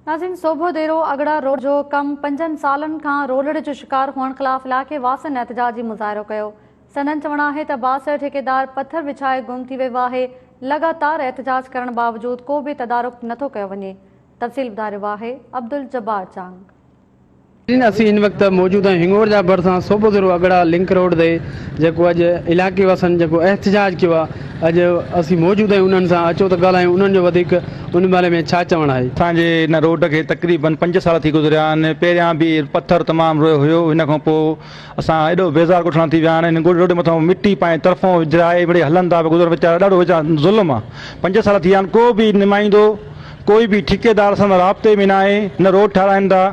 ناظرين Sobhodero Agra road جو ڪم پنجن سالن کان رولڙ جو شڪار هئڻ خلاف علائقي واسين احتجاجي مظاهرو ڪيو سندن چوڻ آهي ته بااثر ٺيڪيدار پٿر وڇائي گم ٿي ويو آهي لڳاتار احتجاج ڪرڻ باوجود ڪو به تدارڪ نٿو ڪيو وڃي تفصيل ٻڌاريو آهي عبدالجبار چانگ. ناهن. اسين هن وقت موجوده هنڱور جا ڀرسان صوبو ضلعو اڳڙا لنڪ روڊ تي جيڪو اڄ علائقي واسن جيڪو احتجاج ڪيو آهي اڄ اسين موجود آهيون انهن سان اچو ته ڳالهايون انهن جو وڌيڪ ان باري ۾ ڇا چوڻ آهي. اسان جي هن روڊ کي تقريبن پنج سال ٿي گذريا آهن پهريان به پٿر تمام روئي هيو ان کان پوء اسان ايڏو بيزار ڳوٺاڻا ٿي ويا آهن هن روڊ مٿان مٽي پائي طرفون وجهرائي مڙئي هلن ٿا پيا گذرن ويچارا ڏاڍو ويچارا ظلم آهي پنج سال ٿي ويا آهن ڪو به نمائيندو ڪوئي به ٺيڪيدار اسان سان رابطي ۾ ناهي، نه روڊ ٺاهرائين ٿا،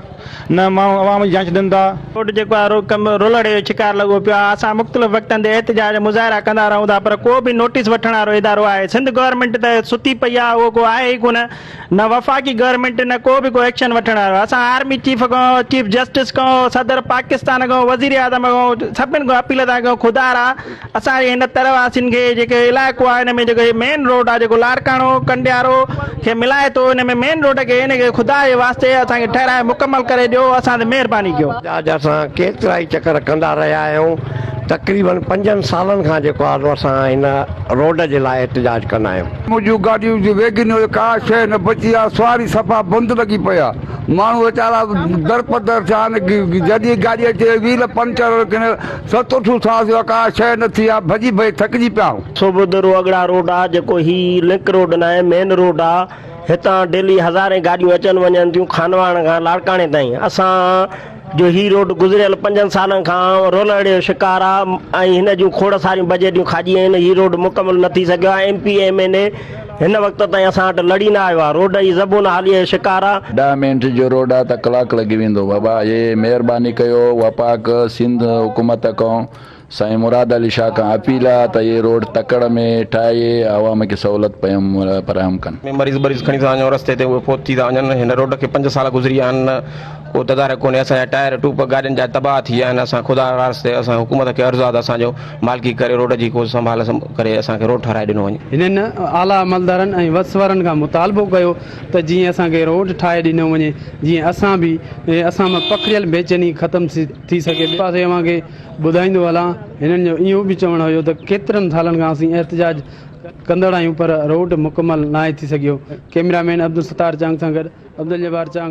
نه ماڻهو عوام جي جاچ ڏين ٿا. روڊ جيڪو آهي اهو ڪم رولڙي جو شڪار لڳو پيو آهي، اسان مختلف وقتن تي احتجاج ۽ مظاهرا ڪندا رهون ٿا پر ڪو به نوٽيس وٺڻ وارو ادارو آهي سنڌ گورنمينٽ ته ستي پئي آهي اهو ڪو آهي ئي ڪونه نه وفاقي گورنمينٽ نه ڪو به ڪو ايڪشن وٺڻ وارو اسان آرمي چيف کان چيف جسٽس کان صدر پاڪستان کان وزيراعظم کان سڀني کان اپيل ٿا ڪيون خدارا اسان جي هن تر واسين کي جيڪي علائقو آهي ان ۾ جيڪو هي مين روڊ آهي جيڪو لاڙڪاڻو ڪنڊيارو کي ملائي ٿو ان ۾ مين روڊ کي ان کي خدا جي واسطي اسان کي ٺهرائي مڪمل ڪري ڏيو اسان تي مهرباني ڪيو. جاج اسان ڪيترائي چڪر ڪندا رهيا آهيون تقريباً پنجن سالن کان جيڪو آهي اسان هن روڊ جي لاء احتجاج ڪندا آهيون. مون جون گاڏيون جون ويگنيو جي ڪا شيء نه بچي آهي سواري صفا بند لڳي پئي آهي ماڻهو ويچارا درپدر ٿيا آهن جڏهن گاڏي اچي ويل پنچر ڪنهن ست اٺون ٿا سوا ڪا شيء نه ٿي آ، ڀڄي ڀڄي ٿڪجي پيا آهون. سوڀد رو اڳڙا روڊ آ جيڪو هي لنڪ روڊ ناهي مين روڊ آ هتان ڊيلي هزارين گاڏيون اچن وڃن ٿيون خانواهڻ کان لاڙڪاڻي تائين اسان جو هي روڊ گذريل پنجن سالن کان رولڙي جو شڪار آ ۽ هن جون کوڙ ساريون بجيٽيون کاڄي ويون آهن هي روڊ مڪمل نه ٿي سگهيو آ M P M N A هن وقت تائين اسان وٽ لڙي نه آيو آ. روڊ ئي زبون حاليء جو شڪار آ. ڏهه منٽ جو روڊ آ ته ڪلاڪ لڳي ويندو. بابا اهي مهرباني ڪيو وفاق سنڌ حڪومت ڪون سائين مراد علي شاهه کان اپيل آ ته اهي روڊ تڪڙ ۾ ٺاهي عوام کي سهولت پيم فراهم ڪن. ۾ مريض بريض کڻي ٿا وڃون رستي تي اهي فوت ٿي ٿا وڃن هن روڊ کي پنج سال گذري ويا آهن ڪو تدارڪ ڪونهي اسان جا ٽائر ٽوپ گاڏين جا تباهه ٿي ويا آهن اسان خدا واسطي اسان حڪومت کي عرض آ ته اسان جو مالڪي ڪري روڊ جي ڪو سنڀال ڪري اسان کي روڊ ٺهرائي ڏنو وڃي. هنن اعليٰ عملدارن ۽ وس وارن کان مطالبو ڪيو ته جيئن اسان کي روڊ ٺاهي ڏنو وڃي جيئن اسان به اسان مان پکڙيل بيچيني ختم ٿي سگهي. ٻئي پاسي اوهان کي ٻڌائيندو هلان هنن جو اهو به چوڻ هيو ته ڪيترن سالن کان اسين احتجاج ڪندڙ آهيون پر روڊ مڪمل ناهي ٿي سگهيو. ڪئميرا مين عبدالستار چانگ سان گڏ عبدالجبار چانگ.